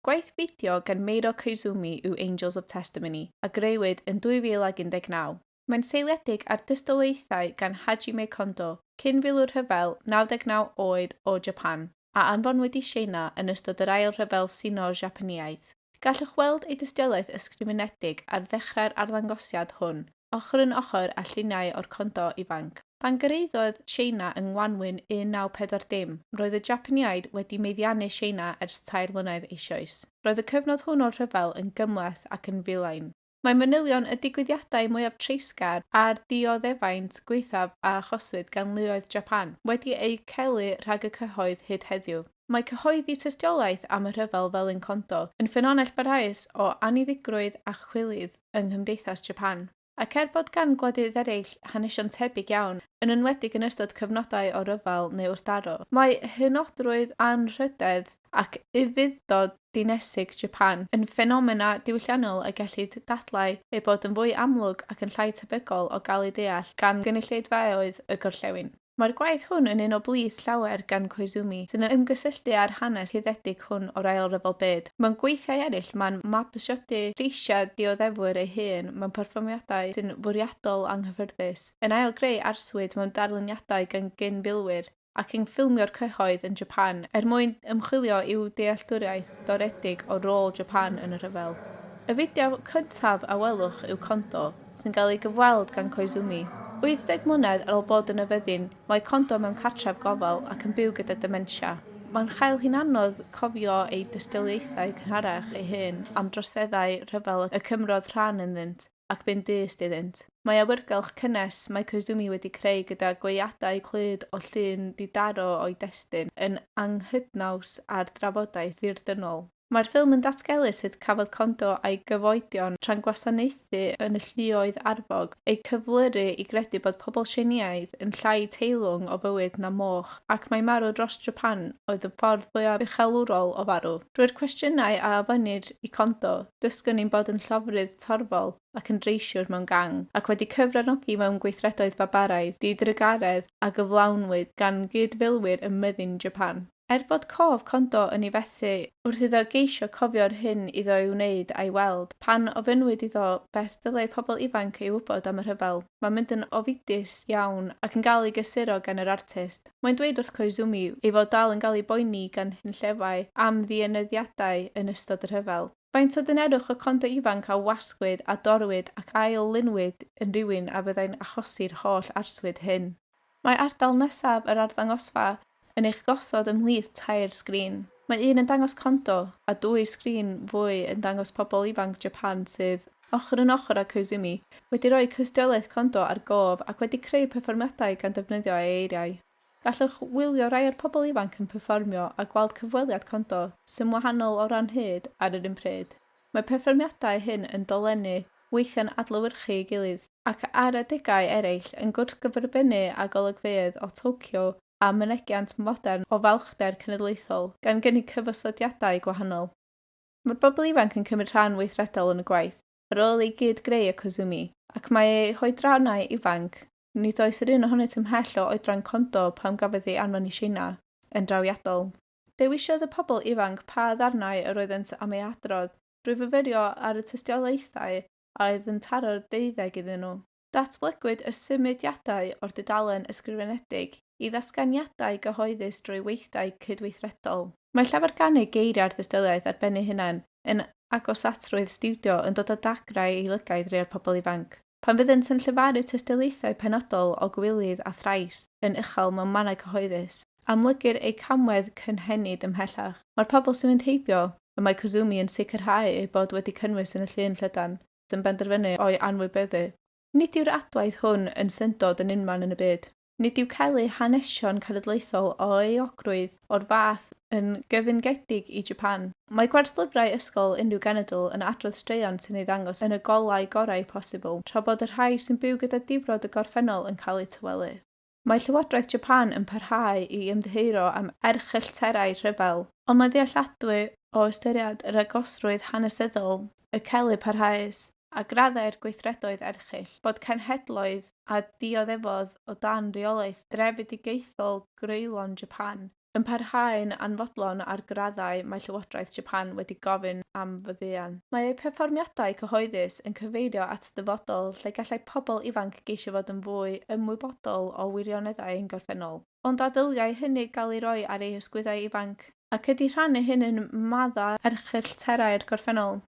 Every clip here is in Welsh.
Gwaith fideo gan Meiro Koizumi yw Angels of Testimony, a grëwyd yn 2019. Mae'n seiliedig ar dystiolaethau gan Hajime Kondo, cyn-filwr rhyfel 99 oed o Japan, a anfonwyd i Tsieina yn ystod yr Ail Rhyfel Sino-Japaneaidd. Gallwch weld ei dystiolaeth ysgrifenedig ar ddechrau'r arddangosiad hwn, ochr yn ochr â lluniau o'r Kondo ifanc. Pan gyrhaeddodd Tsieina yng ngwanwyn 1940, roedd y Japaniaid wedi meddiannu Tsieina ers tair mlynedd eisoes. Roedd y cyfnod hwn o'r rhyfel yn gymhleth ac yn filain. Mae manylion y digwyddiadau mwyaf treisgar a'r dioddefaint gwaethaf a achoswyd gan luoedd Japan wedi eu celu rhag y cyhoedd hyd heddiw. Mae cyhoeddi tystiolaeth am y rhyfel fel un Kondo yn ffynonell barhaus o anniddigrwydd a chwilydd yng nghymdeithas Japan. Ac er bod gan gwledydd eraill hanesion tebyg iawn, yn enwedig yn ystod cyfnodau o ryfel neu wrthdaro, mae hynodrwydd anrhydedd ac Ufudd-dod Dinesig Japan yn ffenomena diwylliannol y gellid dadlau eu bod yn fwy amlwg ac yn llai tebygol o gael eu deall gan gynulleidfaoedd y gorllewin. Mae'r gwaith hwn yn un o blith llawer gan Koizumi, sy'n ymgysylltu â'r hanes rhyddedig hwn o'r Ail Ryfel Byd. Mewn gweithiau eraill, mae'n mabwysiadu lleisiau dioddefwyr ei hun mewn perfformiadau sy'n fwriadol anghyffyrddus, yn ail-greu arswyd mewn darluniadau gan gyn-filwyr, ac yn ffilmio'r cyhoedd yn Japan er mwyn ymchwilio i'w dealltwriaeth doredig o rôl Japan yn y rhyfel. Y fideo cyntaf a welwch yw Kondo, sy'n cael ei gyfweld gan Koizumi. 80 mlynedd ar ôl bod yn y fyddin, mae Kondo mewn cartref gofal ac yn byw gyda dementia. Mae'n chael hi'n anodd cofio ei dystiolaethau cynharach ei hun am droseddau rhyfel y cymrodd rhan ynddynt. ac bu'n dyst iddynt. Mae awyrgylch cynnes mae Koizumi wedi creu gyda gweadau clyd o llun di-daro o'i destun yn anghydnaws â'r drafodaeth ddirdynnol. Mae'r ffilm yn datgelu sut cafodd Kondo a'i gyfoedion tra'n gwasanaethu yn y lluoedd arfog eu cyflyru i gredu bod pobl Tsieineaidd yn llai teilwng o fywyd na moch, ac mai marw dros Japan oedd y ffordd fwyaf uchelwrol o farw. Drwy'r cwestiynau a ofynnir i Kondo, dysgwn ni'n bod yn llofrudd torfol ac yn dreisiwr mewn gang, ac wedi cyfranogi mewn gweithredoedd babaraidd, di-drugaredd a gyflawnwyd gan gyd-filwyr ym myddin Japan. Er bod cof Kondo yn ei fethu wrth iddo geisio cofio'r hyn iddo ei wneud a'i weld, pan ofynnwyd iddo beth ddylai pobl ifanc ei wybod am y rhyfel, mae'n mynd yn ofidus iawn ac yn cael ei gysuro gan yr artist. Mae'n dweud wrth Koizumi ei fod dal yn cael ei boeni gan hunllefau am ddienyddiadau yn ystod y rhyfel. Faint o ddynerwch y condo ifanc a wasgwyd a dorrwyd ac ail-lunwyd yn rywun a fyddai'n achosi'r holl arswyd hyn? Mae ardal nesaf yr arddangosfa yn eich gosod ymhlith tair sgrin. Mae un yn dangos condo, a dwy sgrin fwy yn dangos pobl ifanc Japan sydd, ochr yn ochr â Koizumi, wedi rhoi tystiolaeth condo ar gof ac wedi creu perfformiadau gan ddefnyddio ei eiriau. Gallwch wylio rhai o'r pobl ifanc yn perfformio a gweld cyfweliad Kondo sy'n wahanol o ran hyd ar yr un pryd. Mae perfformiadau hyn yn dolennu, weithiau'n adlewyrchu ei gilydd, ac ar adegau eraill yn gwrthgyferbynnu â golygfeydd o Tokyo a mynegiant modern o falchder cenedlaethol, gan gynnig cyfosodiadau gwahanol. Mae'r bobl ifanc yn cymryd rhan weithredol yn y gwaith ar ôl i gyd greu y Kozumi, ac mae eu hoedrannau ifanc Nid oes yr un ohonynt ymhell o oedran condo pan gafodd ei anfon i Tsieina, yn drawiadol. Dewisiodd y pobl ifanc pa ddarnau yr oeddent am eu hadrodd drwy fyfyrio ar y tystiolaethau a oedd yn taro'r deuddeg iddyn nhw. Datblygwyd y symudiadau o'r dudalen ysgrifenedig i ddatganiadau gyhoeddus drwy weithdai cydweithredol. Mae llafar gan ei geiriau'r dystiolaeth ar ben ei hunan yn agosatrwydd stiwdio yn dod â dagrau i lygaid rhai o'r pobl ifanc. Pan fyddent yn llefaru tystiolaethau penodol o gywilydd a thrais yn uchel mewn mannau cyhoeddus, amlygir eu camwedd cynhenid ymhellach. Mae'r pobl sy'n mynd heibio, y mae Kuzumi yn sicrhau eu bod wedi cynnwys yn y llun llydan sy'n benderfynu o'i anwybyddu. Nid yw'r adwaith hwn yn syndod yn unman yn y byd. Nid yw cael eu hanesion cenedlaethol o euogrwydd o'r fath yn gyfyngedig i Japan. Mae gwerslyfrau ysgol unrhyw genedl yn adrodd straeon sy'n ei ddangos yn y golau gorau posibl, tra bod y rhai sy'n byw gyda difrod y gorffennol yn cael eu tawelu. Mae Llywodraeth Japan yn parhau i ymddiheuro am erchyllterau rhyfel. Ond mae'n ddealladwy o ystyried yr agosrwydd hanesyddol y celf parhaus a graddau'r gweithredoedd erchyll, bod cenhedloedd a dioddefodd o dan reolaeth drefedigaethol greulon Japan, yn parhau'n anfodlon a'r graddau mae Llywodraeth Japan wedi gofyn am faddeuant. Mae eu perfformiadau cyhoeddus yn cyfeirio at ddyfodol lle gallai pobl ifanc geisio fod yn fwy ymwybodol o wirioneddau ein gorffennol. Ond a ddyliai hynny gael ei roi ar eu hysgwyddau ifanc? Ac ydy rhannu hyn yn maddau erchyllterau'r gorffennol?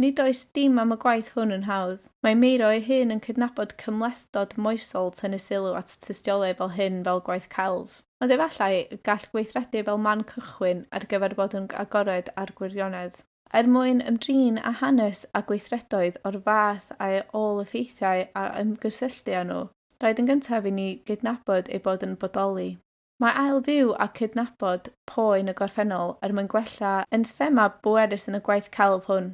Nid oes dim am y gwaith hwn yn hawdd. Mae Meiro ei hun yn cydnabod cymhlethdod moesol tynnu sylw at tystiolaeth fel hyn fel gwaith celf. Ond efallai y gall weithredu fel man cychwyn ar gyfer bod yn agored â'r gwirionedd. Er mwyn ymdrin â hanes a gweithredoedd o'r fath a'i ôl-effeithiau a ymgysylltu â nhw, rhaid yn gyntaf i ni gydnabod eu bod yn bodoli. Mae ail fyw a cydnabod poen y gorffennol er mwyn gwella yn thema bwerus yn y gwaith celf hwn.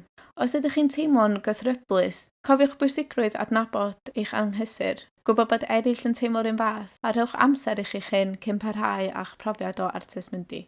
Os ydych chi'n teimlo'n gythryblus, cofiwch bwysigrwydd adnabod eich anghysur, gwybod bod eraill yn teimlo'r un fath, a rhowch amser i chi'ch hun cyn parhau â'ch profiad o artist mundi.